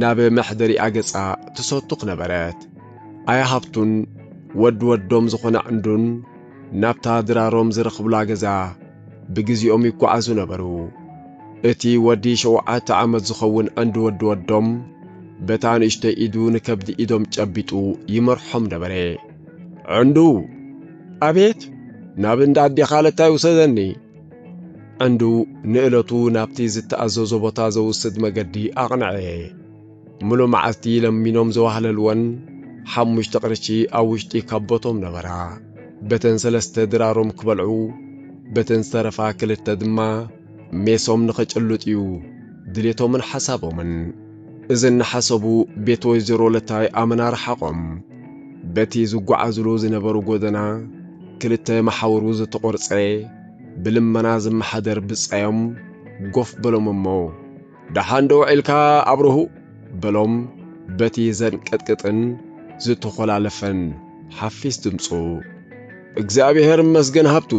ናብ መሕደሪኣ ገጻ ትሰቱኽ ነበረት። ኣያ ሃብቱን ወድ ወዶም ዝኾና ዕንዱን ናብታ ድራሮም ዝረኽብላ ገዛ ብግዜኦም ይጓዓዙ ነበሩ። እቲ ወዲ ሸውዓተ ዓመት ዝኸውን ዕንዲ ወዲ ወዶም በታ ንእሽቶይ ኢዱ ንከብዲ ኢዶም ጨቢጡ ይመርሖም ነበረ። ዕንዱ! ኣቤት! ናብ እንዳ ኣዴኻ ለታይ ውሰደኒ! ዓንዱ ንእለቱ ናብቲ ዝተኣዘዞ ቦታ ዘውስድ መገዲ ኣቕንዐ። ምሉእ መዓልቲ ለሚኖም ዘዋህለልወን ሓሙሽተ ቅርሺ ኣብ ውሽጢ ካቦቶም ነበራ። በተን ሰለስተ ድራሮም ክበልዑ፣ በተን ዝተረፋ ክልተ ድማ ሜሶም ንኽጭልጥ'ዩ ድሌቶምን ሓሳቦምን። እዚ እናሓሰቡ ቤት ወይዘሮ ለታይ ኣመና ረሓቖም። በቲ ዝጓዓዙሉ ዝነበሩ ጎደና ክልተ መሓውሩ ዝተቖርጸ ብልመና ዝመሓደር ብጻዮም ጎፍ በሎም እሞ ደሓን ዶ ውዒልካ ኣብርሁ? በሎም በቲ ዘንቀጥቅጥን ዝተኾላለፈን ሓፊስ ድምጹ። እግዚኣብሔር ይመስገን ሃብቱ!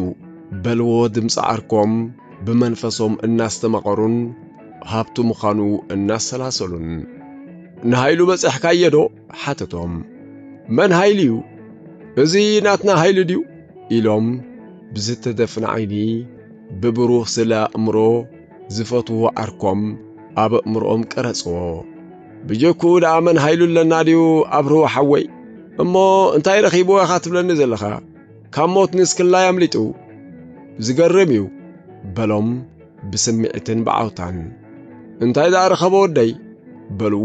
በልዎ ድምጺ ዓርኮም ብመንፈሶም እናስተማቐሩን ሃብቱ ምዃኑ እናሰላሰሉን ንሃይሉ በጸሕካየዶ ሓተቶም መን ሃይሉ እዩ እዚ ናትና ሃይሉ ድዩ ኢሎም ብዝተደፍነ ዓይኒ ብብሩህ ስለ ኣእምሮ ዝፈትዎ ዓርኮም ኣብ ኣእምሮኦም ቀረጽዎ ብጀኩ ደኣ መን ሃይሉ ኣለና ድዩ ኣብርህዎ ሓወይ እሞ እንታይ ረኺብዎ ኢኻ ትብለኒ ዘለኻ ካብ ሞት ንስክላይ ኣምሊጡ ዝገርም እዩ በሎም ብስምዒትን ብዓውታን። እንታይ ደኣ ረኸበ ወደይ? በሉ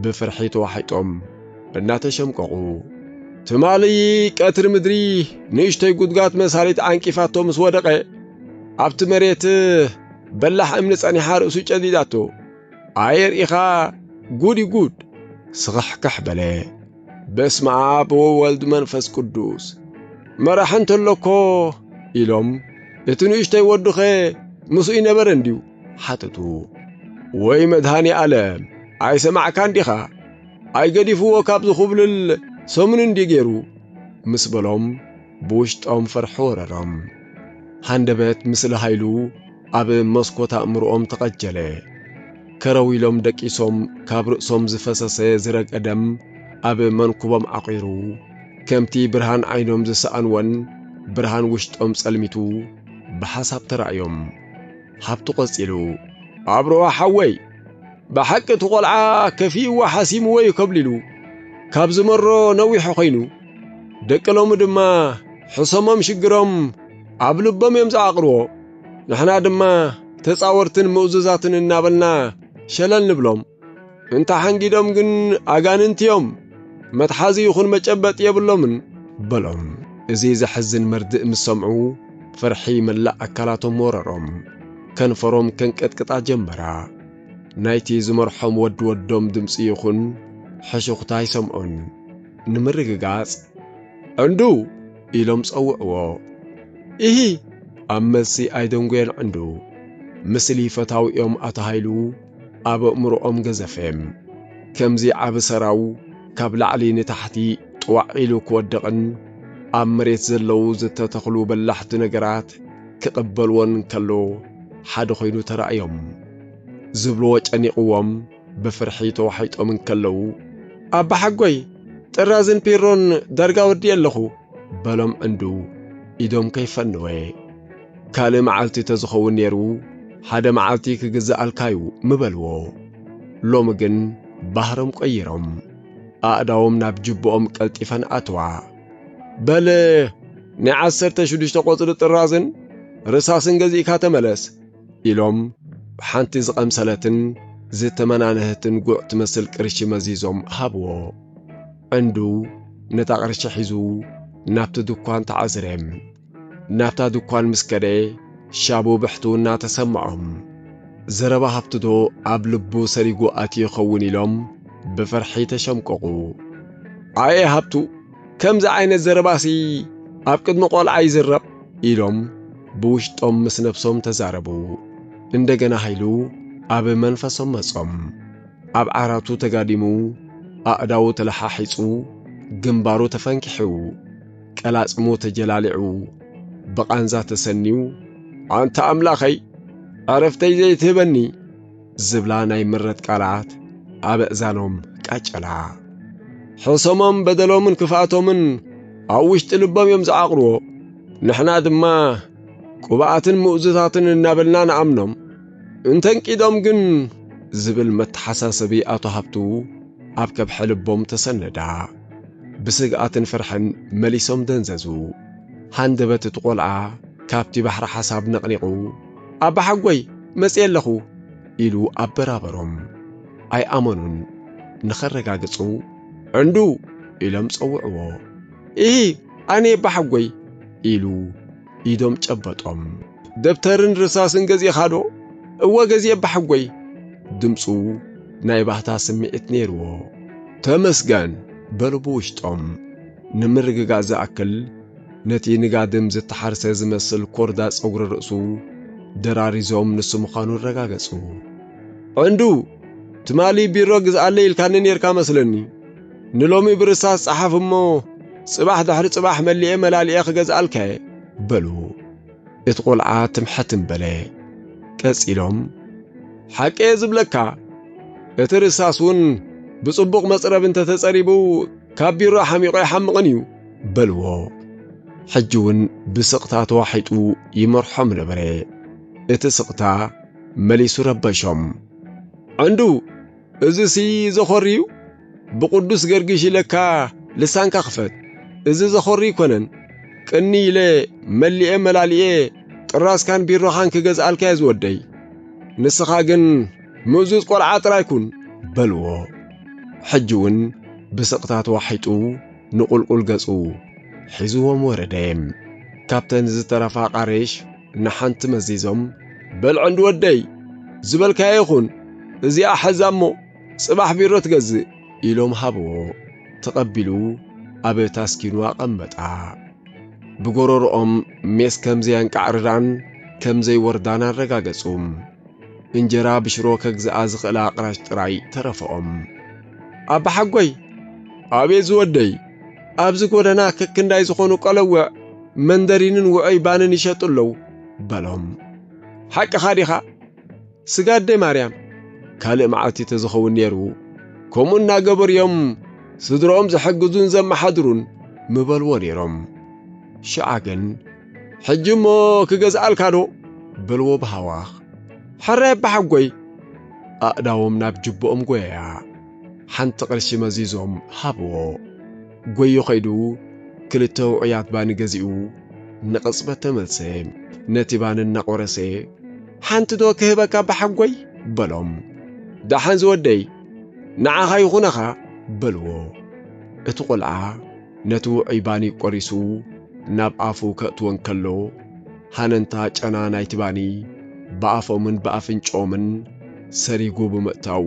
ብፍርሒ ተዋሒጦም እናተሸምቀቑ። ትማሊ ቀትሪ ምድሪ ንእሽቶይ ጉድጋት መሳሊት ዓንቂፋቶ ምስ ወደቐ፣ ኣብቲ መሬት በላሕ እምኒ ጸኒሓ ርእሱ ጨዲዳቶ። ኣየ ርኢኻ ጉድ እዩ ጉድ! ስኽሕክሕ በለ። በስመ አብ ወወልድ መንፈስ ቅዱስ መራሕ እንተሎኮ ኢሎም እቲ ንእሽተይ ወዱኸ ምስኡ ይነበረ እንድዩ ሓተቱ። ወይ መድሃኒ ኣለም ኣይሰማዕካ እንዲኻ ኣይገዲፍዎ ካብ ዝኹብልል ሰሙን እንዲ ገይሩ ምስ በሎም ብውሽጦም ፍርሒ ወረሮም። ሃንደበት ምስሊ ሃይሉ ኣብ መስኮት ኣእምርኦም ተቐጀለ። ከረው ኢሎም ደቂሶም ካብ ርእሶም ዝፈሰሰ ዝረግዐ ደም ኣብ መንኩቦም ዓቚሩ፣ ከምቲ ብርሃን ዓይኖም ዝሰኣንዎን ብርሃን ውሽጦም ጸልሚቱ ብሓሳብ ተራእዮም። ሃብቱ ቀጺሉ። ኣብርሆ ሓወይ! ብሓቂ እቲ ቈልዓ ከፊእዎ ሓሲምዎ እዩ ከብሊሉ። ካብ ዝመሮ ነዊሑ ኰይኑ። ደቂ ሎሚ ድማ ሕሰሞም ሽግሮም ኣብ ልቦም እዮም ዝዓቕርዎ። ንሕና ድማ ተጻወርትን ምእዙዛትን እናበልና ሸለል ንብሎም። እንተ ሓንጊዶም ግን ኣጋንንቲ እዮም፣ መትሓዚ ይኹን መጨበጢ የብሎምን በሎም። እዚ ዘሕዝን መርድእ ምስ ሰምዑ ፍርሒ መላእ ኣካላቶም ወረሮም፣ ከንፈሮም ከንቀጥቅጣ ጀመራ። ናይቲ ዝመርሖም ወዲ ወዶም ድምፂ ይኹን ሕሹኽታ ኣይሰምዑን። ንምርግጋጽ እንዱ ኢሎም ጸውዕዎ። ኢሂ! ኣብ መልሲ ኣይደንጎየን ዕንዱ። ምስሊ ፈታዊኦም ኣቶ ሃይሉ ኣብ ኣእምሮኦም ገዘፈ። ከምዚ ዓቢ ሰራው ካብ ላዕሊ ንታሕቲ ጥዋዕ ኢሉ ክወድቕን ኣብ መሬት ዘለዉ ዝተተኽሉ በላሕቲ ነገራት ክቕበልዎን ከሎ ሓደ ኮይኑ ተራእዮም። ዝብልዎ ጨኒቕዎም። ብፍርሒ ተዋሒጦም እንከለዉ፣ ኣባሓጎይ ጥራዝን ፒሮን ዳርጋ ወዲኤ ኣለኹ፣ በሎም እንዱ ኢዶም ከይፈነወ። ካልእ መዓልቲ ተዝኸውን ነይሩ ሓደ መዓልቲ ክግዝኣልካ'ዩ ምበልዎ። ሎሚ ግን ባህሮም ቀይሮም ኣእዳዎም ናብ ጅብኦም ቀልጢፈን ኣተዋ። በል ናይ ዓሰርተ ሽዱሽተ ቆጽሊ ጥራዝን ርሳስን ገዚእካ ተመለስ። ኢሎም ሓንቲ ዝቐምሰለትን ዝተመናነህትን ጉዕ ትመስል ቅርሺ መዚዞም ሃብዎ። ዕንዱ ነታ ቅርሺ ሒዙ ናብቲ ድኳን ተዓዝረ። ናብታ ድኳን ምስ ከደ ሻቡ ብሕቱ እናተሰምዖም ዘረባ ሃብትዶ ኣብ ልቡ ሰሪጉ ኣትዩ ይኸውን ኢሎም ብፍርሒ ተሸምቀቑ። ኣየ ሃብቱ ከምዚ ዓይነት ዘረባሲ ኣብ ቅድሚ ቆልዓ ይዝረብ ኢሎም ብውሽጦም ምስ ነብሶም ተዛረቡ። እንደገና ሃይሉ ኣብ መንፈሶም መጾም። ኣብ ዓራቱ ተጋዲሙ ኣእዳዉ ተለሓሒጹ ግንባሩ ተፈንኪሑ ቀላጽሙ ተጀላሊዑ ብቓንዛ ተሰንዩ ኣንታ ኣምላኸይ ዕረፍተይ ዘይትህበኒ! ዝብላ ናይ ምረት ቃላት ኣብ ኣእዛኖም ቃጨላ። ሕሰሞም በደሎምን ክፍኣቶምን ኣብ ውሽጢ ልቦም እዮም ዝዓቕርዎ። ንሕና ድማ ቅብኣትን ምእዙታትን እናበልና ንኣምኖም። እንተንቂዶም ግን ዝብል መተሓሳሰቢ ኣቶ ሃብቱ ኣብ ከብሐ ልቦም ተሰነዳ። ብስግኣትን ፍርሕን መሊሶም ደንዘዙ። ሃንደበት እቲ ቆልዓ ካብቲ ባሕሪ ሓሳብ ነቕኒቑ ኣባሓጎይ መጽየ ኣለኹ ኢሉ ኣበራበሮም። ኣይኣመኑን። ንኸረጋግጹ ዕንዱ ኢሎም ጸውዕዎ። ኢሂ ኣነየ ኣባሓጎይ ኢሉ ኢዶም ጨበጦም። ደብተርን ርሳስን ገዚእኻዶ? እወ ገዚኤ ኣባሓጎይ። ድምጹ ናይ ባህታ ስምዒት ነይርዎ። ተመስገን በሉ ብውሽጦም። ንምርግጋእ ዝኣክል ነቲ ንጋድም ዝተሓርሰ ዝመስል ኮርዳ ጸጉሪ ርእሱ ደራሪዞም ንሱ ምዃኑ ኣረጋገጹ። ዕንዱ! ትማሊ ቢሮ ግዝኣለይ ኢልካኒ ኔርካ መስለኒ። ንሎሚ ብርሳስ ጸሓፍ እሞ ጽባሕ ድሕሪ ጽባሕ መሊኤ መላሊኤ ክገዝኣልካ'የ። በሉ። እቲ ቈልዓ ትምሕትም በለ። ቀጺሎም። ሓቂ'የ ዝብለካ፣ እቲ ርሳስ'ውን ብጽቡቕ መጽረቢ እንተ ተጸሪቡ ካብ ቢሮ ሓሚቑ ኣይሓምቕን እዩ። በልዎ። ሕጂ እውን ብስቕታ ተዋሒጡ ይመርሖም ነበረ። እቲ ስቕታ መሊሱ ረበሾም። ዕንዱ! እዝሲ ዘኾሪ እዩ? ብቕዱስ ገርጊሽ ኢለካ ልሳንካ ክፈት! እዚ ዘኾሪ ኣይኮነን። ቅንይ ኢለ መሊኤ መላሊኤ ጥራዝካን ቢሮኻን ክገዝኣልካ እየ ዝወደይ። ንስኻ ግን ምእዙዝ ቈልዓ ጥራይ ኩን! በልዎ። ሕጂ እውን ብስቕታ ተዋሒጡ ንቑልቁል ገጹ ሒዝዎም ወረደ። ካብተን ዝተረፋ ኣቓርሽ ንሓንቲ መዚዞም፣ በል ዕንዲ ወደይ፣ ዝበልካዮ ይኹን፣ እዚኣ ሐዛ እሞ ጽባሕ ቢሮ ትገዝእ፣ ኢሎም ሃብዎ። ተቐቢሉ ኣብ ታስኪኑ ኣቐመጣ። ብጎሮሮኦም ሜስ ከም ዘየንቃዕርራን ከም ዘይወርዳን ኣረጋገጹ። እንጀራ ብሽሮ ከግዝኣ ዝኽእላ ኣቕራሽ ጥራይ ተረፈኦም። ኣባሓጎይ ኣቤት ዝወደይ ኣብዚ ጎደና ክክንዳይ ዝኾኑ ቀለውዕ መንደሪንን ውዑይ ባንን ይሸጡ ኣለዉ በሎም ሓቅኻ ዲኻ ስጋ ኣደ ማርያም ካልእ መዓልቲ ተዝኸውን ነይሩ ከምኡ እናገበሩ እዮም ስድሮኦም ዘሐግዙን ዘመሓድሩን ምበልዎ ነይሮም ሽዓ ግን ሕጂ እሞ ክገዝኣልካ ዶ? በልዎ ብሃዋኽ። ሕረ ኣባሓጎይ! ኣእዳዎም ናብ ጅቦኦም ጎየያ። ሓንቲ ቅርሺ መዚዞም ሃብዎ። ጎዩ ከይዱ ክልተ ውዑያት ባኒ ገዚኡ ንቕጽበት ተመልሰ። ነቲ ባኒ እናቖረሰ ሓንቲ ዶ ክህበካ ኣባሓጎይ? በሎም። ደሓን ዝወደይ! ንዓኻ ይኹነኻ! በልዎ። እቲ ቆልዓ ነቲ ውዑይ ባኒ ቆሪሱ ናብ ኣፉ ከእትዎ እንከሎ፣ ሃነንታ ጨና ናይቲ ባኒ ብኣፎምን ብኣፍንጭኦምን ሰሪጉ ብምእታው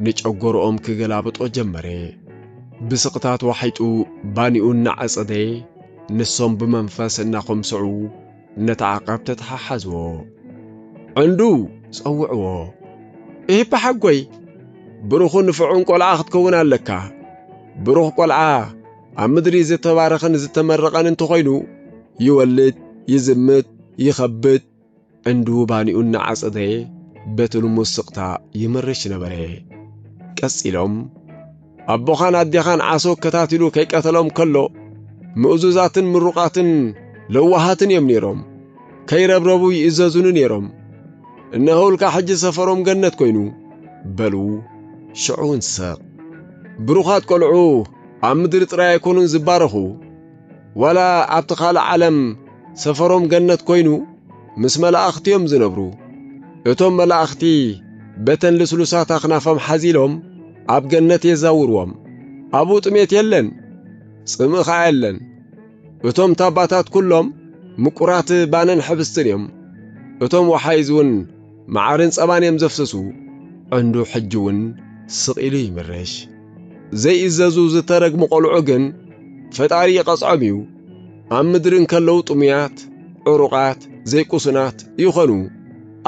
ንጨጎርኦም ክገላብጦ ጀመረ። ብስቕታ ተዋሒጡ ባኒኡ እናዐጸደ ንሶም ብመንፈስ እናኾምሰዑ እነተዓቐብ ተተሓሓዝዎ። ዕንዱ ጸውዕዎ። ኢህፓ ሓጎይ፣ ብሩኹን ንፍዑን ቆልዓ ክትከውን ኣለካ። ብሩኽ ቆልዓ ኣብ ምድሪ ዝተባረኸን ዝተመረቐን እንተኾይኑ ይወልድ፣ ይዝምት፣ ይኸብድ። ዕንዱ ባኒኡ እናዓጸደ በቲ ልሙስ ስቕታ ይምርሽ ነበረ። ቀጺሎም። ኣቦኻን ኣዴኻን ዓሶ ኣከታቲሉ ከይቀተሎም ከሎ ምእዙዛትን ምሩቓትን ለዋሃትን እዮም ነይሮም። ከይረብረቡ ይእዘዙኒ ነይሮም። እነሆውልካ ሕጂ ሰፈሮም ገነት ኮይኑ በሉ። ሽዑውን ሰቕ። ብሩኻት ቆልዑ ኣብ ምድሪ ጥራይ ኣይኮኑን ዝባረኹ፣ ዋላ ኣብቲ ካልእ ዓለም ሰፈሮም ገነት ኮይኑ ምስ መላእኽቲ እዮም ዝነብሩ። እቶም መላእኽቲ በተን ልስሉሳት ኣኽናፎም ሓዚሎም ኣብ ገነት የዛውርዎም። ኣብኡ ጥሜት የለን፣ ጽምእ ኸኣ የለን። እቶም ታባታት ኵሎም ምቁራት ባንን ሕብስትን እዮም፣ እቶም ወሓይዝውን መዓርን ጸባን እዮም ዘፍስሱ። ዕንዱ ሕጂውን ስቕ ኢሉ ይምርሽ። ዘይእዘዙ ዝተረግሙ ቈልዑ ግን ፈጣሪ ይቐጽዖም እዩ፣ ኣብ ምድሪ እንከለዉ ጥሙያት፣ ዕሩቓት፣ ዘይቁሱናት ይኾኑ፣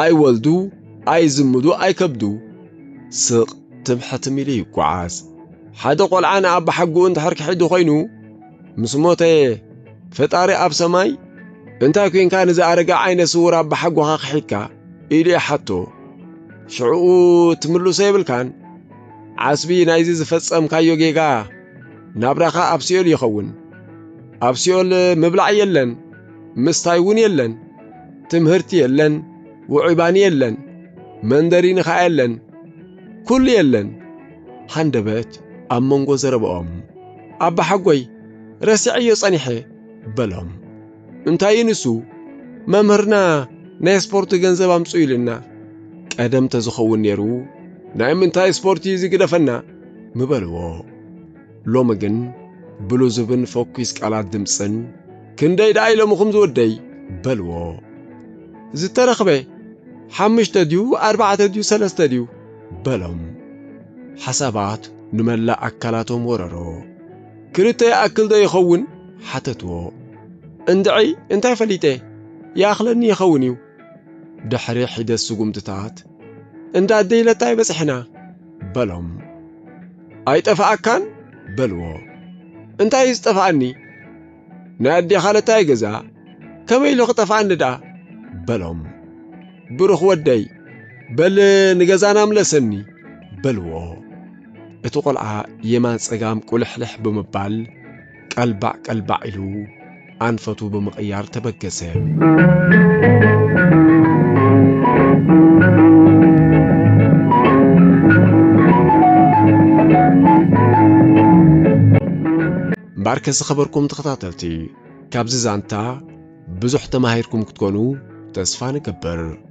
ኣይወልዱ፣ ኣይዝምዱ፣ ኣይከብዱ። ስቕ ትም ሕትም ኢሉ ይጓዓዝ። ሓደ ቆልዓ ንኣባሓጎኡ እንድሕር ክሕዱ ኮይኑ ምስ ሞተ ፈጣሪ ኣብ ሰማይ እንታይ ኮንካ ንዚ ኣረጋ ዓይነ ስውር ኣባሓጎኻ ክሒድካ ኢሉ ይሓቶ ሽዕኡ ትምልሶ የብልካን ዓስቢ ናይዚ ዝፈጸምካዮ ጌጋ ናብራኻ ኣብ ሲኦል ይኸውን ኣብ ሲኦል ምብላዕ የለን ምስታይ እውን የለን ትምህርቲ የለን ውዑይ-ባኒ የለን፣ መንደሪኒ ከኣ የለን፣ ኩሉ የለን። ሃንደበት ኣብ መንጎ ዘረባኦም፣ ኣባሓጎይ ረሲዐዮ ጸኒሐ፣ በሎም። እንታይ'ዩ ንሱ? መምህርና ናይ ስፖርት ገንዘብ ኣምጽኡ ኢሉና፣ ቀደም ተዝኸውን ነይሩ ናይ ምንታይ ስፖርት'ዩ እዚ ግደፈና፣ ምበልዎ። ሎሚ ግን ብሉዙብን ፈኲስ ቃላት ድምጽን ክንደይ ደኣ ኢሎምኹም ዝወደይ በልዎ ዝተረኽበ ሓምሽተ ድዩ ኣርባዕተ ድዩ ሰለስተ ድዩ በሎም ሓሳባት ንመላእ ኣካላቶም ወረሮ ክልተ ይኣክል ዶ ይኸውን ሓተትዎ እንድዒ እንታይ ፈሊጠ ይኣኽለኒ ይኸውን እዩ ድሕሪ ሒደት ስጉምትታት እንዳ ኣደይ ለታይ በጽሕና በሎም። ኣይጠፍኣካን? በልዎ። እንታይ እዩ ዝጠፍኣኒ? ናይ ኣዴኻ ለታይ ገዛ ከመይ ኢሉ ክጠፍኣኒ ደኣ? በሎም። ብሩኽ ወደይ በል ንገዛና ምለሰኒ በልዎ። እቲ ቈልዓ የማን ጸጋም ቁልሕልሕ ብምባል ቀልባዕ ቀልባዕ ኢሉ ኣንፈቱ ብምቕያር ተበገሰ። እምበኣርከ ዝኸበርኩም ተኸታተልቲ ካብዚ ዛንታ ብዙሕ ተማሂርኩም ክትኮኑ ተስፋ ንገብር።